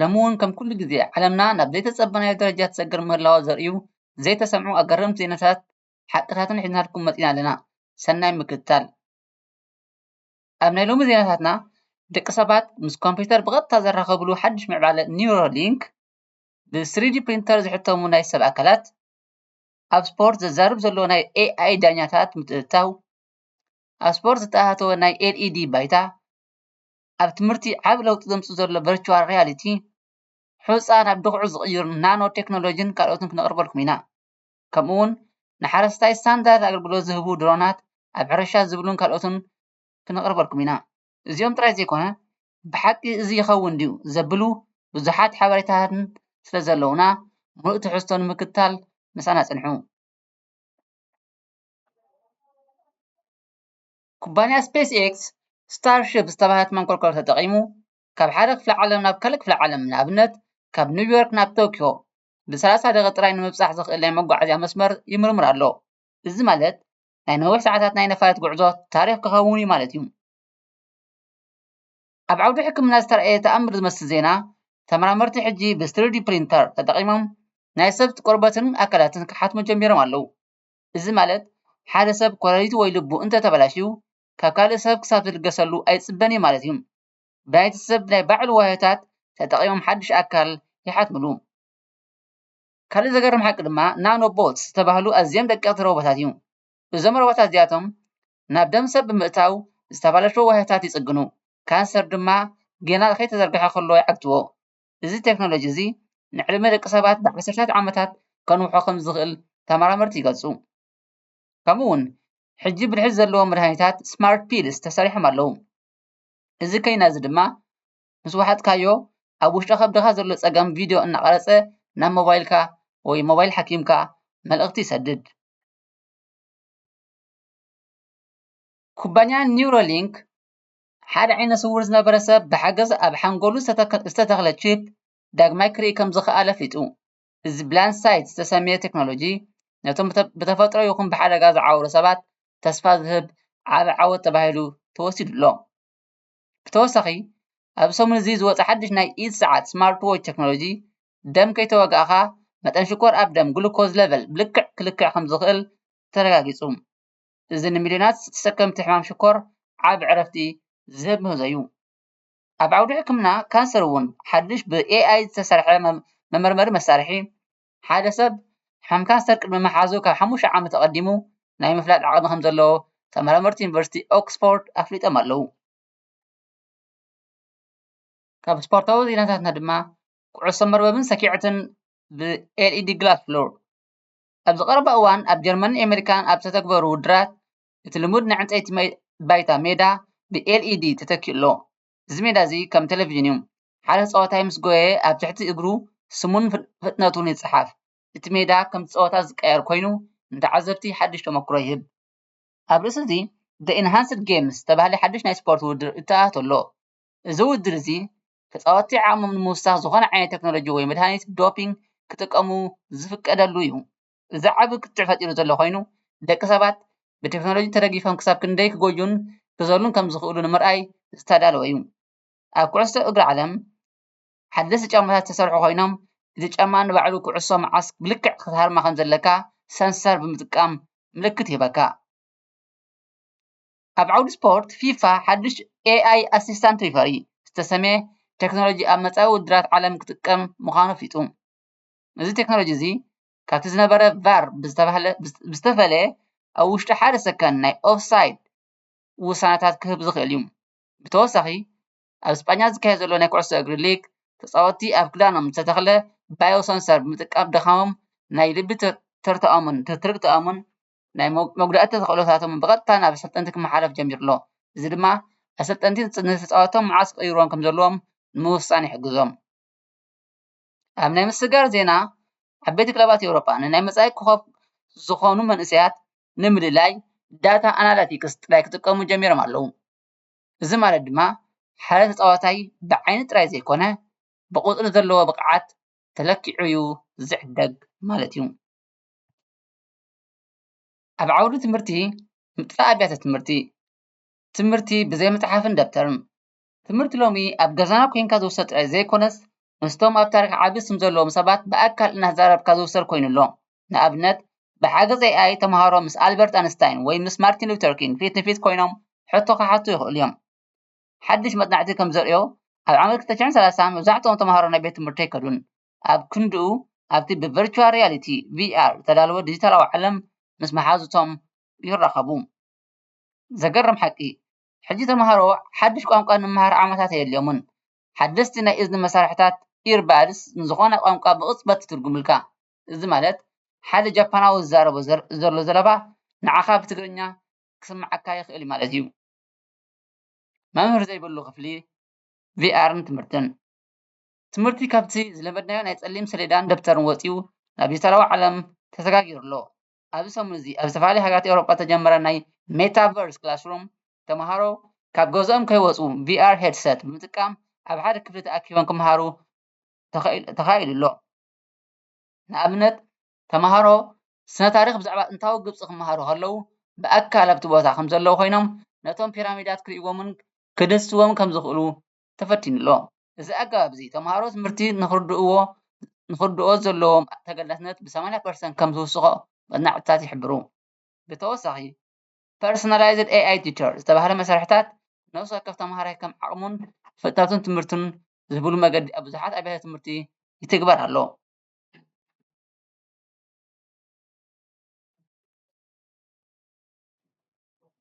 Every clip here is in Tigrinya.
ሎሚ እውን ከም ኩሉ ግዜ ዓለምና ናብ ዘይተጸበናዮ ደረጃ ትሰግር ምህላዋ ዘርእዩ ዘይተሰምዑ ኣገረምቲ ዜናታትን ሓቅታትን ሒዝናልኩም መጺና ኣለና ሰናይ ምክትታል። ኣብ ናይ ሎሚ ዜናታትና ደቂ ሰባት ምስ ኮምፕዩተር ብቐጥታ ዘራኸብሉ ሓድሽ ምዕባለ ኒውሮሊንክ፣ ብ ስሪዲ ፕሪንተር ዝሕተሙ ናይ ሰብ ኣካላት፣ ኣብ ስፖርት ዘዛርብ ዘሎ ናይ ኤኣይ ዳኛታት ምትእትታው፣ ኣብ ስፖርት ዝተኣታተወ ናይ ኤልኢዲ ባይታ፣ ኣብ ትምህርቲ ዓቢ ለውጢ ዘምጽእ ዘሎ ቨርቹዋል ሪያሊቲ ሑጻ ናብ ድኹዒ ዝቕይር ናኖ ቴክኖሎጂን ካልኦትን ክነቕርበልኩም ኢና ከምኡ ውን ንሓረስታይ ስታንዳርድ ኣገልግሎት ዝህቡ ድሮናት ኣብ ሕርሻ ዝብሉን ካልኦትን ክነቕርበልኩም ኢና እዚኦም ጥራይ ዘይኮነ ብሓቂ እዚ ይኸውን ድዩ ዘብሉ ብዙሓት ሓበሬታትን ስለ ዘለዉና ምሉእ ትሕዝቶ ንምክትታል ምሳና ጽንሑ። ኩባንያ ስፔስኤክስ ስታርሺፕ ዝተባህለት መንኮርኮር ተጠቒሙ ካብ ሓደ ክፍለ ዓለም ናብ ካልእ ክፍለ ዓለም፣ ንኣብነት ካብ ኒውዮርክ ናብ ቶክዮ፣ ብሰላሳ ደቒቕ ጥራይ ንምብጻሕ ዘኽእል ናይ መጓዓዝያ መስመር ይምርምር ኣሎ። እዚ ማለት ናይ ነዊሕ ሰዓታት ናይ ነፋሪት ጕዕዞ ታሪኽ ክኸውን'ዩ ማለት'ዩ። ኣብ ዓውዲ ሕክምና ዝተራእየ ተኣምር ዝመስል ዜና፣ ተመራመርቲ ሕጂ ብስሪዲ ፕሪንተር ተጠቒሞም ናይ ሰብ ቆርበትን ኣካላትን ክሓትሙ ጀሚሮም ኣለዉ። እዚ ማለት ሓደ ሰብ ኮለሊቱ ወይ ልቡ እንተተበላሽዩ ካብ ካልእ ሰብ ክሳብ ዝልገሰሉ ኣይጽበን እዩ ማለት እዩ። ናይቲ ሰብ ናይ ባዕሉ ዋህዮታት ተጠቒሞም ሓድሽ ኣካል ይሓትምሉ። ካልእ ዘገርም ሓቂ ድማ ናኖ ቦትስ ዝተባህሉ ኣዝዮም ደቀቕቲ ሮቦታት እዩ። እዞም ሮቦታት እዚኣቶም ናብ ደም ሰብ ብምእታው ዝተባላሸዉ ዋህዮታት ይጽግኑ፣ ካንሰር ድማ ጌና ከይተዘርግሐ ከሎ ይዓግትዎ። እዚ ቴክኖሎጂ እዚ ንዕድመ ደቂ ሰባት ብዓሰርተታት ዓመታት ከንውሖ ከም ዝኽእል ተመራመርቲ ይገልፁ። ከምኡ እውን ሕጂ ብልሒ ዘለዎም መድሃኒታት ስማርት ፒልስ ተሰሪሖም ኣለዉ። እዚ ኬይና እዚ ድማ ምስ ወሓጥካዮ ኣብ ውሽጢ ከብድኻ ዘሎ ፀገም ቪድዮ እናቐረፀ ናብ ሞባይልካ ወይ ሞባይል ሓኪምካ መልእኽቲ ይሰድድ። ኩባንያ ኒውሮሊንክ ሓደ ዓይነ ስዉር ዝነበረ ሰብ ብሓገዝ ኣብ ሓንጎሉ ዝተተኽለ ቺፕ ዳግማይ ክርኢ ከም ዝኸኣለ ኣፍሊጡ። እዚ ብላይንድ ሳይት ዝተሰምየ ቴክኖሎጂ ነቶም ብተፈጥሮ ይኹን ብሓደጋ ዝዓወሩ ሰባት ተስፋ ዝህብ ዓቢ ዓወት ተባሂሉ ተወሲዱ ኣሎ። ብተወሳኺ ኣብዚ ሰሙን እዚ ዝወጸ ሓድሽ ናይ ኢድ ሰዓት ስማርት ዎች ቴክኖሎጂ ደም ከይተወጋእካ መጠን ሽኮር ኣብ ደም ግሉኮዝ ለቨል ብልክዕ ክልክዕ ከም ዝኽእል ተረጋጊጹ። እዚ ንሚልዮናት ተሰከምቲ ሕማም ሽኮር ዓቢ ዕረፍቲ ዝህብ ምህዞ እዩ። ኣብ ዓውዲ ሕክምና ካንሰር እውን ሓድሽ ብኤኣይ ዝተሰርሐ መመርመሪ መሳርሒ፣ ሓደ ሰብ ሕማም ካንሰር ቅድሚ ምሓዙ ካብ ሓሙሽተ ዓመት ኣቐዲሙ ናይ ምፍላጥ ዓቕሚ ከም ዘለዎ ተመራመርቲ ዩኒቨርሲቲ ኦክስፎርድ ኣፍሊጦም ኣለዉ። ካብ ስፖርታዊ ዜናታትና ድማ ኩዕሶ መርበብን ሰኪዐትን ብኤልኢዲ ግላስ ፍሎር ኣብዚ ቀረባ እዋን ኣብ ጀርመንን ኣመሪካን ኣብ ዝተተግበሩ ውድድራት እቲ ልሙድ ናይ ዕንፀይቲ ባይታ ሜዳ ብኤልኢዲ ተተኪኡ ኣሎ። እዚ ሜዳ እዚ ከም ቴሌቭዥን እዩ። ሓደ ተፃዋታይ ምስ ጎየየ ኣብ ትሕቲ እግሩ ስሙን ፍጥነቱን ይፀሓፍ። እቲ ሜዳ ከምቲ ፀወታ ዝቀያየር ኮይኑ ንተዓዘብቲ ሓዱሽ ተመኩሮ ይህብ። ኣብ ርእሲ እዚ The Enhanced Games ዝተባህለ ሓዱሽ ናይ ስፖርት ውድድር ይተኣታቶ ኣሎ። እዚ ውድድር እዚ ተጻወትቲ ዓቕሞም ንምውሳኽ ዝኾነ ዓይነት ተክኖሎጂ ወይ መድሃኒት ዶፒንግ ክጥቀሙ ዝፍቀደሉ እዩ። እዚ ዓቢ ክትዕ ፈጢሩ ዘሎ ኮይኑ፣ ደቂ ሰባት ብተክኖሎጂ ተደጊፎም ክሳብ ክንደይ ክጎዩን ክዘሉን ከም ዝኽእሉ ንምርኣይ ዝተዳለወ እዩ። ኣብ ኩዕሶ እግሪ ዓለም ሓደስቲ ጫማታት ዝተሰርሑ ኮይኖም፣ እቲ ጫማ ንባዕሉ ኩዕሶ መዓስ ብልክዕ ክትሃርማ ከም ዘለካ ሰንሰር ብምጥቃም ምልክት ይህበካ። ኣብ ዓውዲ ስፖርት ፊፋ ሓዱሽ ኤኣይ ኣስስታንት ሪፈሪ ዝተሰምየ ቴክኖሎጂ ኣብ መፃኢ ውድድራት ዓለም ክጥቀም ምዃኑ ኣፍሊጡ። እዚ ቴክኖሎጂ እዚ ካብቲ ዝነበረ ቫር ብዝተፈለየ ኣብ ውሽጢ ሓደ ሰከንድ ናይ ኦፍሳይድ ውሳነታት ክህብ ዝኽእል እዩ። ብተወሳኺ ኣብ ስጳኛ ዝካየድ ዘሎ ናይ ኩዕሶ እግሪ ሊግ ተፃወትቲ ኣብ ክዳኖም ዝተተኽለ ባዮ ሰንሰር ብምጥቃም ድኻሞም ናይ ልቢ ትርታኦምን ትርግታኦምን ናይ መጉዳእቲ ተኽእሎታቶም ብቐጥታ ናብ ኣሰልጠንቲ ክመሓላለፍ ጀሚሩ ኣሎ። እዚ ድማ ኣሰልጠንቲ ንተጻወትቶም መዓስ ክቕይርዎም ከም ዘለዎም ንምውሳን ይሕግዞም። ኣብ ናይ ምስግጋር ዜና ዓበይቲ ክለባት ኤውሮጳ ንናይ መጻኢ ኮኾብ ዝዀኑ መንእሰያት ንምልላይ ዳታ ኣናላቲክስ ጥራይ ክጥቀሙ ጀሚሮም ኣለዉ። እዚ ማለት ድማ ሓደ ተጻዋታይ ብዓይኒ ጥራይ ዘይኰነ ብቝጽሪ ዘለዎ ብቕዓት ተለኪዑ'ዩ ዝዕደግ ማለት'ዩ። ኣብ ዓውዲ ትምህርቲ ምጥፋእ ኣብያተ ትምህርቲ ትምህርቲ ብዘይ መፅሓፍን ደፍተርን ትምህርቲ ሎሚ ኣብ ገዛና ኮይንካ ዝውሰድ ጥራይ ዘይኮነስ ምስቶም ኣብ ታሪኽ ዓቢ ስም ዘለዎም ሰባት ብኣካል እናተዛረብካ ዝውሰድ ኮይኑ ኣሎ ንኣብነት ብሓገዝ AI ተምሃሮ ምስ ኣልበርት ኣንስታይን ወይ ምስ ማርቲን ሉተር ኪንግ ፊት ንፊት ኮይኖም ሕቶ ክሓቱ ይኽእሉ እዮም ሓድሽ መፅናዕቲ ከምዘርእዮ ኣብ ዓመት ክልተ ሽሕን ሰላሳን መብዛሕትኦም ተምሃሮ ናብ ቤት ትምህርቲ ኣይከዱን ኣብ ክንድኡ ኣብቲ ብቨርቹዋል ሪያሊቲ፣ VR፣ ዝተዳለወ ዲጂታላዊ ዓለም ምስ መሓዙቶም ይራኸቡ። ዘገርም ሓቂ፣ ሕጂ ተመሃሮ ሓድሽ ቋንቋ ንምሃር ዓመታት ኣየድልዮምን። ሓደስቲ ናይ እዝኒ መሳርሒታት፣ Earbuds፣ ንዝዀነ ቋንቋ ብቕጽበት ይትርጕምልካ። እዚ ማለት ሓደ ጃፓናዊ ዝዛረቦ ዘሎ ዘረባ ንዓኻ ብትግርኛ ክስምዓካ ይኽእል እዩ ማለት እዩ። መምህር ዘይብሉ ክፍሊ፣ VR ን ትምህርትን። ትምህርቲ ካብቲ ዝለመድናዮ ናይ ጸሊም ሰሌዳን ደብተርን ወጺኡ ናብ ዲጂታላዊ ዓለም ተሰጋጊሩ ኣሎ። ኣብዚ ሰሙን እዚ ኣብ ዝተፈላለያ ሃገራት ኤውሮጳ ዝተጀመረ ናይ Metaverse Classroom፣ ተመሃሮ ካብ ገዝኦም ከይወጹ VR ሄድሰት ብምጥቃም ኣብ ሓደ ክፍሊ ተኣኪቦም ክመሃሩ ተኻኢሉ ኣሎ። ንኣብነት ተመሃሮ ስነ-ታሪኽ ብዛዕባ ጥንታዊ ግብጺ ክመሃሩ ከለዉ ብኣካል ኣብቲ ቦታ ከምዘለዉ ኮይኖም ነቶም ፒራሚዳት ክርእይዎምን ክድህስስዎምን ከምዝኽእሉ ተፈቲኑ ኣሎ። እዚ ኣገባብ እዚ ተምሃሮ ትምህርቲ ንኽርድእዎ ንኽርድኦ ዘለዎም ተገዳስነት ብ ሰማንያ ፐርሰንት ከም ዝውስኾ መፅናዕትታት ይሕብሩ። ብተወሳኺ ፐርሰናላይዝድ ኤኣይ ቲቸር ዝተብሃለ መሳርሕታት ነፍሲ ወከፍ ተምሃራይ ከም ዓቕሙን ፍጥነቱን ትምህርቱን ዝህብሉ መገዲ ኣብ ብዙሓት ኣብያተ ትምህርቲ ይትግበር ኣሎ።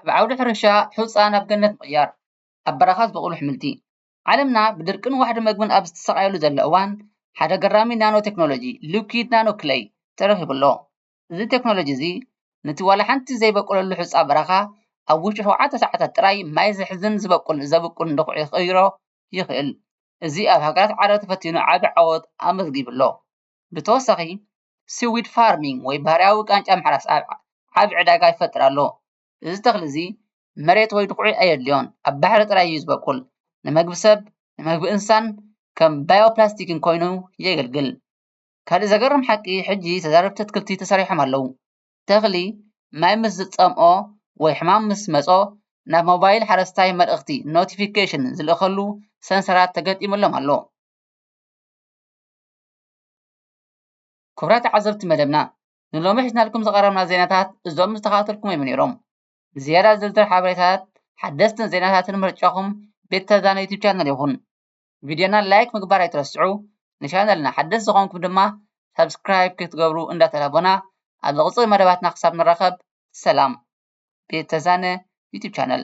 ኣብ ዓውዲ ሕርሻ ሑፃ ናብ ገነት ምቕያር። ኣብ በረኻ ዝበቑሉ ኣሕምልቲ። ዓለምና ብድርቅን ዋሕዲ መግብን ኣብ እትሳቐየሉ ዘሎ እዋን፣ ሓደ ኣገራሚ ናኖ ቴክኖሎጂ፣ ሊኲድ ናኖ ክለይ፣ ተረኺቡ ኣሎ። እዚ ቴክኖሎጂ እዚ፣ ነቲ ዋላ ሓንቲ ዘይበቈለሉ ሑጻ በረኻ፣ ኣብ ውሽጢ ሸውዓተ ሰዓታት ጥራይ ማይ ዝሕዝን ዝበቍል ዘብቍልን ድዅዒ ክቕይሮ ይኽእል። እዚ ኣብ ሃገራት ዓረብ ተፈቲኑ ዓቢ ዓወት ኣመዝጊቡ ኣሎ። ብተወሳኺ፣ ሲዊድ ፋርሚንግ ወይ ባህርያዊ ቃንጫ ምሕራስ ዓቢ ዕዳጋ ይፈጥር ኣሎ። እዚ ተኽሊ እዚ መሬት ወይ ድኹዒ ኣየድልዮን ኣብ ባሕሪ ጥራይ እዩ ዝቦቅል ንመግቢ ሰብ ንመግቢ እንስሳን ከም ባዮ ፕላስቲክ ኮይኑ የገልግል ካልእ ዘገርም ሓቂ ሕጂ ተዛረብቲ ኣትክልቲ ተሰሪሖም ኣለዉ ተኽሊ ማይ ምስ ዝጸምኦ ወይ ሕማም ምስ መጾ ናብ ሞባይል ሓረስታይ መልእኽቲ ኖቲፊኬሽን ዝልእኸሉ ሰንሰራት ተገጢሙሎም ኣሎ። ክቡራት ተዓዘብቲ መደብና ንሎሚ ሒዝናልኩም ዝቐረብና ዜናታት እዞም ዝተኸታተልኩም እዮም ነይሮም። ንዝያዳ ዝርዝር ሓበሬታታት ሓደስትን ዜናታትን ምርጫኹም ቤት ተዛነ ዩቱብ ቻነል ይኹን። ቪድዮና ላይክ ምግባር ኣይትረስዑ፣ ንቻነልና ሓደስቲ ዝኾንኩም ድማ ሳብስክራይብ ክትገብሩ እንዳተላቦና ኣብ ዝቕጽል መደባትና ክሳብ ንራኸብ ሰላም። ቤት ተዛነ ዩቱብ ቻነል